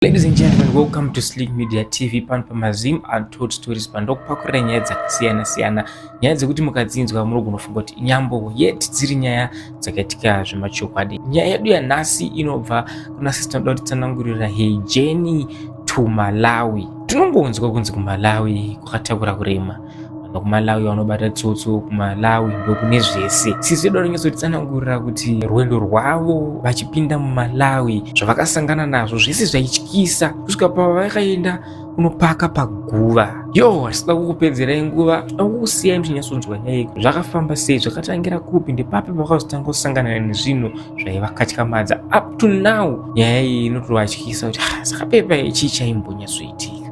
Ladies and gentlemen, welcome to Slick Media TV pano pamazim untold stories pandokupakurira nyaya dzakasiyana siyana nyaya dzekuti mukadzinzwa muri kunofunga kuti inyambo yet dziri nyaya dzakaitika zvemachokwadi nyaya yedu yanhasi inobva kuna sisi tinoda kuti tsanangurira hejeni to malawi tinongonzwa kunzi kumalawi kwakatakura kurema vanhu kumalawi vanobata tsotso kumalawi ndokune zvese sisi vedu vanonyatsoritsanangurira kuti rwendo rwavo vachipinda mumalawi zvavakasangana nazvo zvese zvaityisa kusvika pavakaenda unopaka paguva yo asida kukupedzerai nguva akukusiyai muchinyatsonzwa nyaiko zvakafamba sei zvakatangira kupi ndepapi pakazotanga kusangana nezvinhu zvaivakatyamadza up to now nyaya iyi inotovatyisa kuti ah, saka pepa ichii chaimbonyatsoitika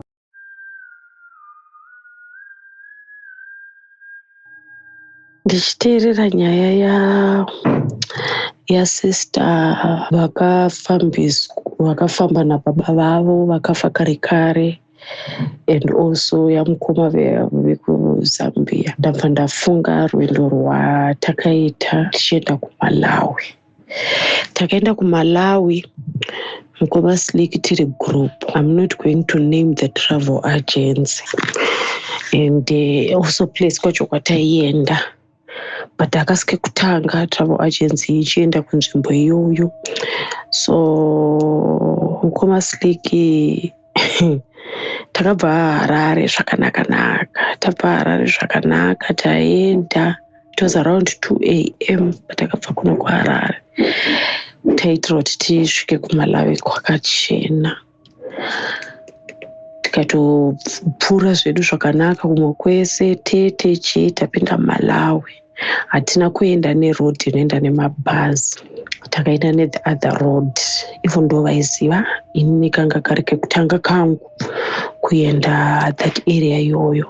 ndichiteerera nyaya ya yasister vakafambiswa vakafamba nababa vavo vakafa kare kare and also yamukoma vekuzambia ndabva ndafunga rwendo rwatakaita tichienda kumalawi takaenda kumalawi mukoma slik tiri group im not going to name the travel agency and uh, also place kwacho kwataienda but akasike kutanga travel agency ichienda kunzvimbo iyoyo so mukoma slik takabva harare zvakanaka naka tabva harare zvakanaka taenda it was around 2 am patakabva kuno kuharare taitira kuti tisvike kumalawi kwakachena tikatopfuura zvedu zvakanaka kumwe kwese tete chii tapinda malawi hatina kuenda neroad inoenda nemabhazi takaenda nethe other road ivo ndo vaiziva inini kanga kari kekutanga kangu kuenda that area iyoyo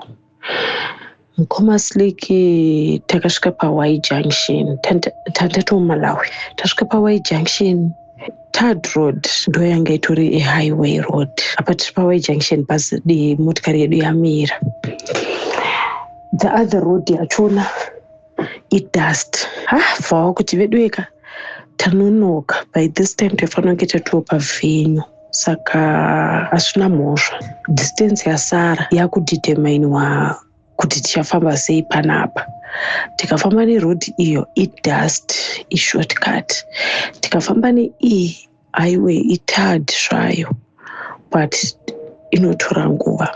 mukomaslik takasvika pawy junction tandatoomalawi tasvika pawy junction Third road ndoyanga itori ihighway road apa tiri paway junction bhazi dii motikari yedu yamira the other road yachona idust ha bvawa kuti vedueka tanonoka by this time taifanira kunge tatiwo pavhenyu saka asina mhosva distance yasara yakudeterminwa kuti tichafamba sei panapa tikafamba neroad iyo idust ishortcut tikafamba neiyi highway itard zvayo but inotora nguva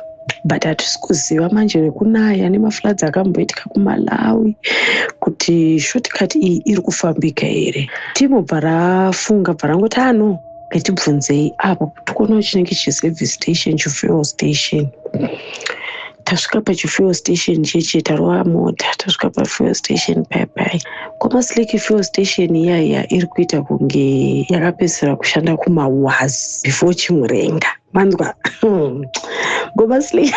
but hatisi kuziva manje nekunaya nemafloods akamboitika kumalawi kuti shortcut iyi iri kufambika here timo bvarafunga bvarangoti ano ah, Hetibvunzei apo tikuona chinenge chiservice station chifuel station tasvika pachifuel station cheche tarova mota tasvika pafuel station paipai kwamasiliki fuel station iyaiya iri kuita kunge yakapedzisira kushanda kumawas before chimurenga manzwa ngomasiliki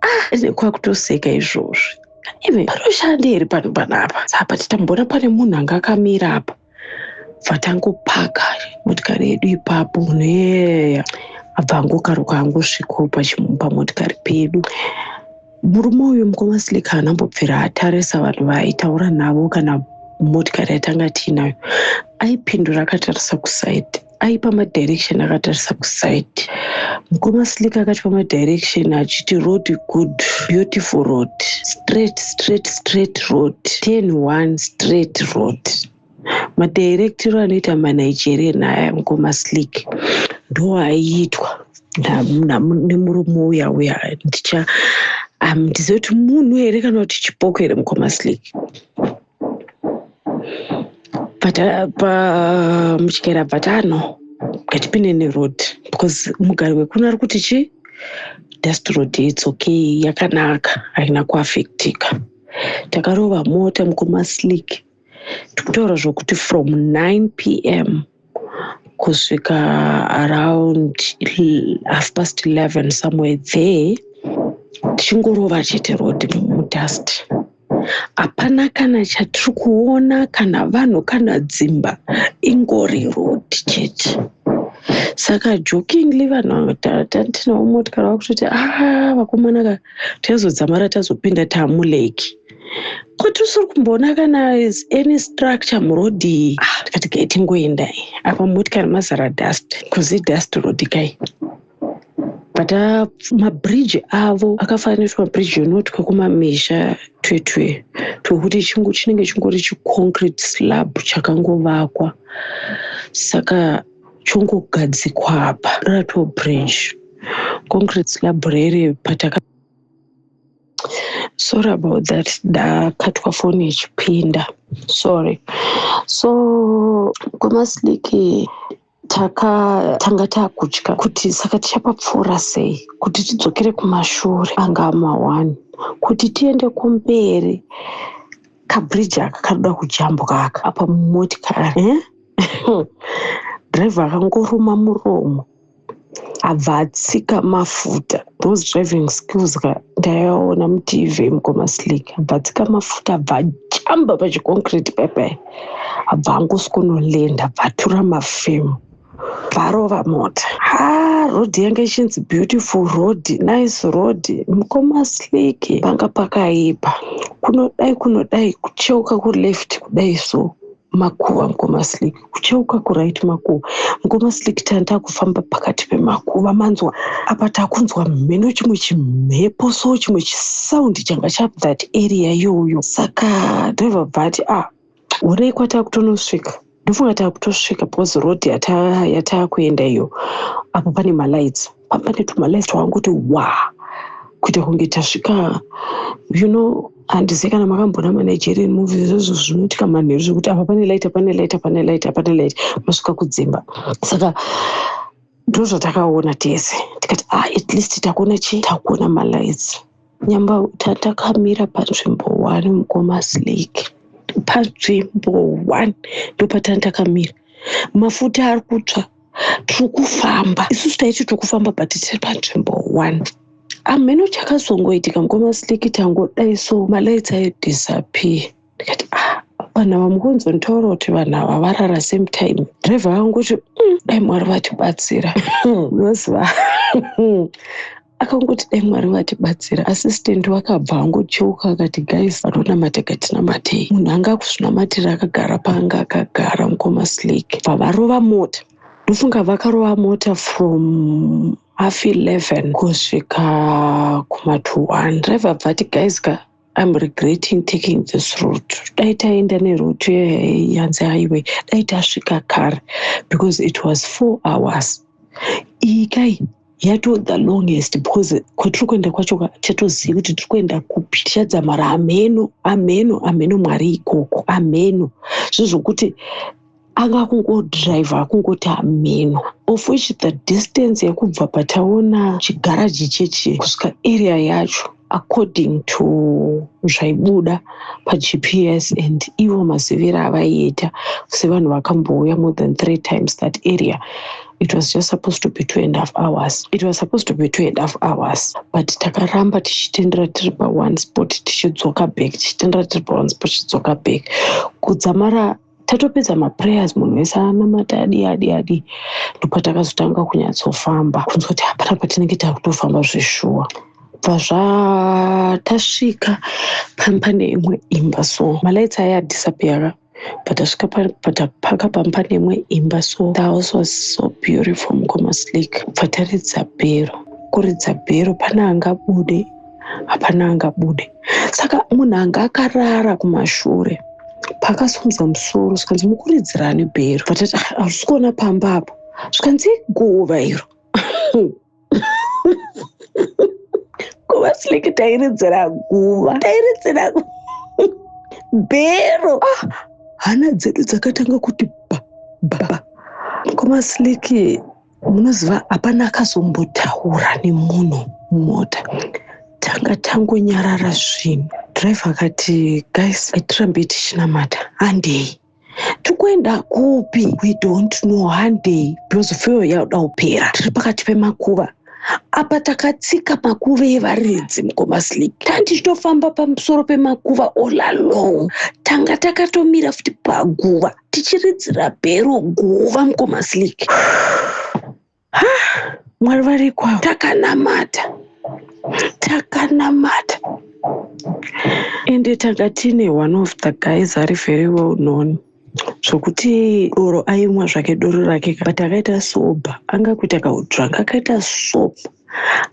ah, nekwakutoseka izvozvi even panoshandei here pano panapa saka patitamboona pane munhu anga akamira apa vatangopaka motikari yedu ipapo munhu yeya abva angokaruka angosvikawo pamotikari pedu murume uyu mukoma slika haana mbobvira atarisa vanhu vaaitaura navo kana motikari yatanga tiinayo aipindura akatarisa kusaidi aipa madirection akatarisa kuside mukoma slik akatipa madirection achiti road good beautiful road straight straight straight road ten one straight road madirectiro anoita manigerian aya mukoma slik ndo aiitwa nemurume uya uya ndicha um, ndizoti munhu here kana kuti chipoko here mukoma slik pamuchikera bvatano ngatipinde neroad because mugari wekuno ari kuti chii dust road its okay yakanaka haina kuafektika takarova mota mukoma slick tikutaura zvokuti from 9 p m kusvika around half past 11 somewhere there tichingorova chete road mudust hapana kana chatiri kuona kana vanhu kana dzimba ingori road chete saka jokingly vanhu tinawo motikari vakutoti a ah, vakomana ka tazodzamara tazopinda taamuleki kuti usiri kumboona kana is any structure muroad iyi ah, tikati kai tingoenda apa motikari mazara dust kuzi dust road kai but uh, mabridge avo akafananisa mabridge unoti kwekumamisha twetwe twekuti chinenge chingori chiconcrete slab chakangovakwa saka chongogadzikwa apa rato bridge concrete slab rere pataka sorry about that ndakatwa foni ichipinda sorry so kwemasliki takatanga takutya kuti saka tichapapfuura sei kuti tidzokere kumashure anga amawani kuti tiende kumberi kabridge aka kanoda kujambuka aka apa mumotikari eh? driver akangoruma muromo abva atsika mafuta those driving skills ka ndaiaona mutv mukoma slik abva atsika mafuta abva ajamba pachiconcrete pepe abva angoswonolenda abva atura mafemo varova mota ha road yange ichinzi beautiful road nice road mukoma slik panga pakaipa kunodai kunodai kucheuka kuleft kudai so makuva mukoma slik ucheuka kurit makuva mukoma slik tani takufamba pakati pemakuva manzwa apa takunzwa mheno chimwe chimhepo so chimwe chisaundi changa chap that area yoyo saka driver bvati a ah, onei kwatakutonosvika ndofunga takutosvika because road yatakuenda iyo apo pane malights pamane tumalice twakangoti wa kuita kunge tasvika you know handizivi kana makamboona manigerian movies izvozvo zvinoitika manheru zvekuti apa pane light apane light apane light apane light masvika kudzimba saka ndozvatakaona tese tikati ah, at least takuona chii takuona malights Nyambauta takamira panzvimbo one mukomas lake panzvimbo one ndopatani takamira mafuta ari kutsva tiri kufamba isusu taiti tiri kufamba but tiri panzvimbo one amheno chakazongoitika mukomas lake tangodai so malights ayo disappear ndikati ah vanhu ava mukunzonditora kuti vanhu ava varara same time driver vangu kuti mm, dai mwari vatibatsira unoziva akangoti dai mwari vatibatsira asistenti wakabva angocheuka akati guys vatonamate katinamatei munhu anga akuzvinamatira akagara paanga akagara mukoma slake pavarova mota ndofunga vakarova mota from half 11 kusvika kuma 2 1 driver bvati guys ka I'm regretting taking this route. Dai taenda neroute yanzi highway, dai tasvika kare because it was four hours. Iyi kai yato the longest because kwatiri kuenda kwacho chatozivi kuti tiri kuenda kupi tichadzamara ameno ameno ameno mwari ikoko ameno zvezvokuti anga kungodriver kungoti ameno of which the distance yekubva pataona chigaraji chechi kusvika area yacho according to zvaibuda pagps and ivo maziviro avaiita sevanhu vakambouya more than three times that area it was just supposed to be two and half hours it was supposed to be two and half hours but takaramba tichitendera tiri paone spot tichidzoka back tichitendera tiri paone spot tichidzoka back kudzamara tatopedza maprayers munhu wese anamata adii adii adii ndopatakazotanga kunyatsofamba kunzwa kuti hapana patinenge takutofamba zveshuwa bva zvatasvika pampane imwe imba so malights aya adisappeara patasvika patapaka pamba nemwe imba so the house was so beautiful mukoma slik pataridza bhero kuridza bhero pane angabude hapana angabude saka munhu anga akarara kumashure paakasimudza musoro zvikanzi mukuridzirani bhero vatati ah, hazvisi kuona pamba apo zvikanzi guva iro guva sileke tairidzira guva tairidzira bhero ah, hana dzedu dzakatanga kuti ba ba ba komasiliki munoziva hapana akazombotaura nemunhu mumota tanga tangonyarara zvinhu drive akati guys atirambe tichinamata handei tikuenda kupi we don't know handei because feo yaoda kupera tiri pakati pemakuva apa takatsika makuva evaridzi mukomasleep tandichitofamba pamusoro pemakuva all along tanga takatomira futi paguva tichiridzira bhero guva mukoma slik mwari varikwa takanamata takanamata ende tanga tine one of the guys ari very well known zvokuti doro aimwa zvake doro rake but akaita soba anga kuita kaudranga akaita soba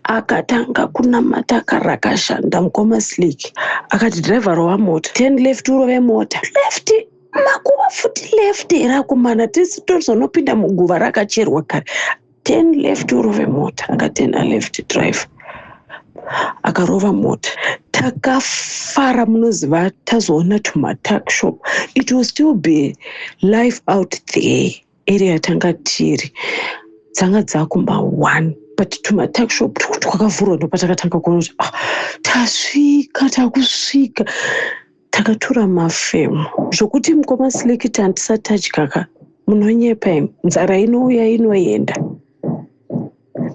akatanga kunamata karakashanda mukoma slik akati driver rova mota ten left urove mota left makuva futi left here akomana tese tozonopinda muguva rakacherwa kare ten left urove mota akaten aleft drive akarova mota takafara munoziva tazoona tumatak shop it will still be life out there area yatanga tiri dzanga dzakumba one but tumatak shop twakavhurwa ndopatakatanga kuona kuti ah, tasvika takusvika takatura mafemo zvokuti mukoma slikit handisati adyaka munonyepa imi nzara inouya inoenda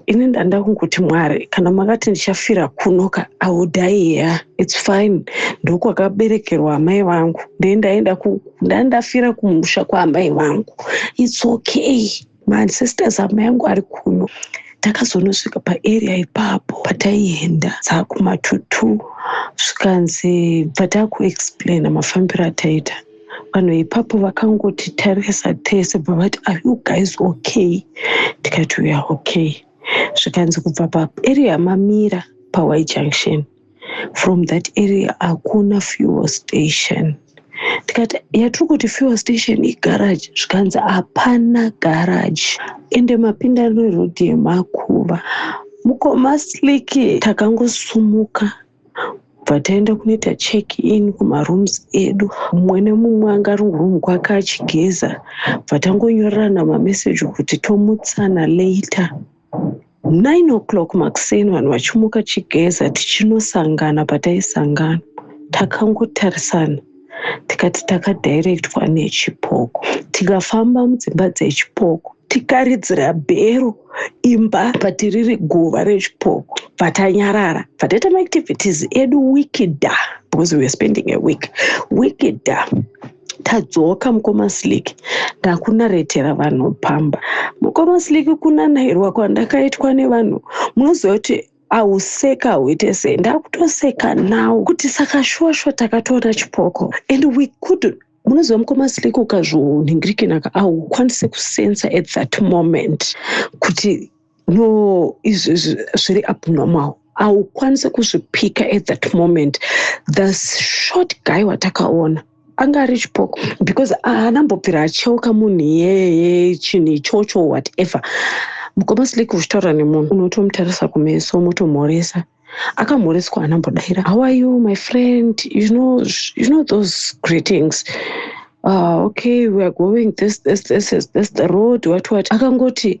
ini ndanda kungoti mwari kana makati ndichafira kunoka audai ya its fine ndokwakaberekerwa amai vangu ndendaenda ndandafira kumusha kwaamai vangu its okay masisters amai yangu ari kuno takazonosvika paarea ipapo pataienda dzakumatutu zvikanzi patakuexplaina mafambiro ataita vanhu ipapo vakangoti tarisa tese bvavati are you guys okay tikati uya okay zvikanzi kubva paarea yamamira pawai junction from that area hakuna fuel station tikati yatiri kuti fuel station igaraji zvikanzi hapana garaji ende mapinda nerodhi yemakuva mukoma sliki takangosumuka bva taenda kunoita check in kumarooms edu mumwe nemumwe anga ari room kwake achigeza bva tangonyorerana mameseji kuti tomutsana later 9 o'clock makuseni vanhu vachimuka chigeza tichinosangana pataisangana takangotarisana tikati takadirectwa nechipoko tikafamba mudzimba dzechipoko tikaridzira bhero imba patiriri guva rechipoko patanyarara pataita maactivities edu wikida because weare spending a week wikida tadzoka mukoma slick ndakunaretera vanhu pamba mukoma slick kunanairwa kwandakaitwa nevanhu munoziva kuti auseka uite sei ndakutoseka now kuti saka shuwa shuwa takatoona chipoko and we could munoziva mukoma slick ukazvonhingirikinaka aukwanise kusensa at that moment kuti no izvi zviri abnormal haukwanise kuzvipika at that moment the short guy watakaona anga ari chipoko because anambobvira acheuka munhu iyeye chinhu ichocho whatever mukoma sliki uchitaura nemunhu unotomutarisa kumeso motomhoresa akamhoreswa anambodaira how are you my friend you know, you know those greetings uh, okay weare going this, this, this, this, this the road what what akangoti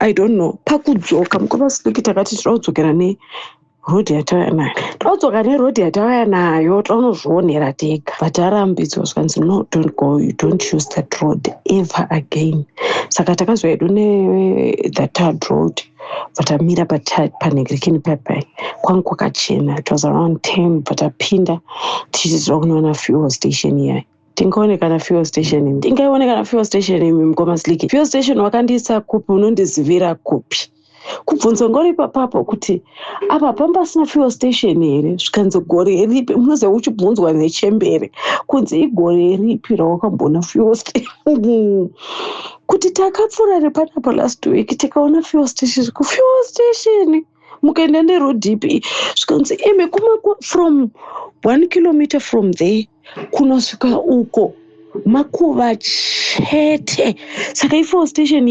i don't know pakudzoka mukoma siki takati tira kudzokera ne rhodhi yatauya nayo taudzoka nerhodhi yatauya nayo taunozvionera tega but arambidzwa zvikanzi no don't go you don't use that road ever again saka takazoa yedu nethatard road but amira panhegrekini papai kwange kwakachena it was around ten but apinda tichiziva kunoona fuel station iyayi tingaone kana fuel station imi tingaione kana fuel station imi mukoma sliki fuel station wakandiisa kupi unondizivira kupi kubvunzo ngori papapo kuti apa pamba pasina fuel station here zvikanzi gore ripi munoze uchibvunzwa nechembere kunzi igore ripi rawakambona fuel station kuti takapfuura repanapo last week tikaona fuel station kufuel station mukaenda neroad ipi zvikanzi imi kuma from one kilometer from there kunosvika uko makuva chete saka ifo station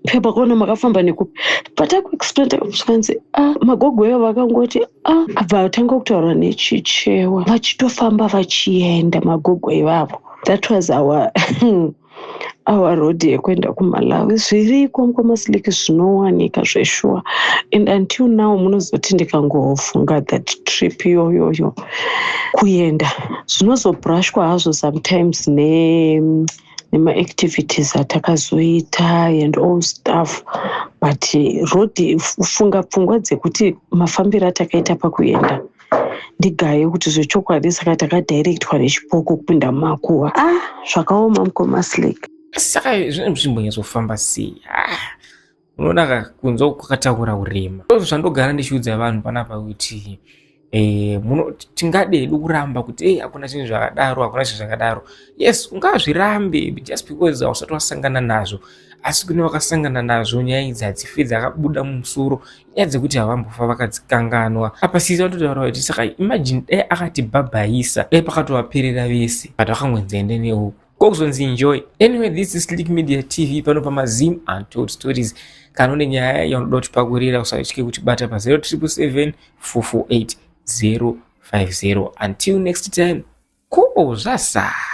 pepa kuona makafamba nekupi patakuexplain takusvikanzi a ah, magogo eyo vakangoti a ah, abva vatanga kutaura nechichewa vachitofamba vachienda magogo ivavo that was our our road yekuenda kumalawi zviriko mukwamasilic zvinowanika zveshuwa and until now munozoti ndikangofunga that trip iyoyoyo kuenda zvinozobrashwa hazvo sometimes ne nemaactivities atakazoita and all stuff but road funga pfungwa dzekuti mafambiro atakaita pakuenda ndigaye kuti zvechokwadi saka takadirectwa nechipoko kupinda mumakuva ah zvakaoma mukoma slake saka zvinenge zvichimbonyatsofamba sei ah, unoona ka kunze kwakataura urema ndozvo zvandogara ndichiudza vanhu panapa kuti eh, tingadedu kuramba kuti ei hakuna chinhu zvakadaro hakuna chinhu zvakadaro yes ungazvirambe just because hausati wasangana nazvo asi kune vakasangana nazvo nyaya idzi hadzifedzi akabuda mumusoro nyaya dzekuti havambofa vakadzikanganwa apa sisi vatotaura kuti saka imagine dai akatibhabhaisa dai pakatovaperera vese but vakangonzi ende neuku ko kuzonzi enjoy anyway this is slick media tv pano pamazim untold stories kana une nyaya yaunoda kutipakurira usatye kutibata pa 077 448 050 until next time ko zvasara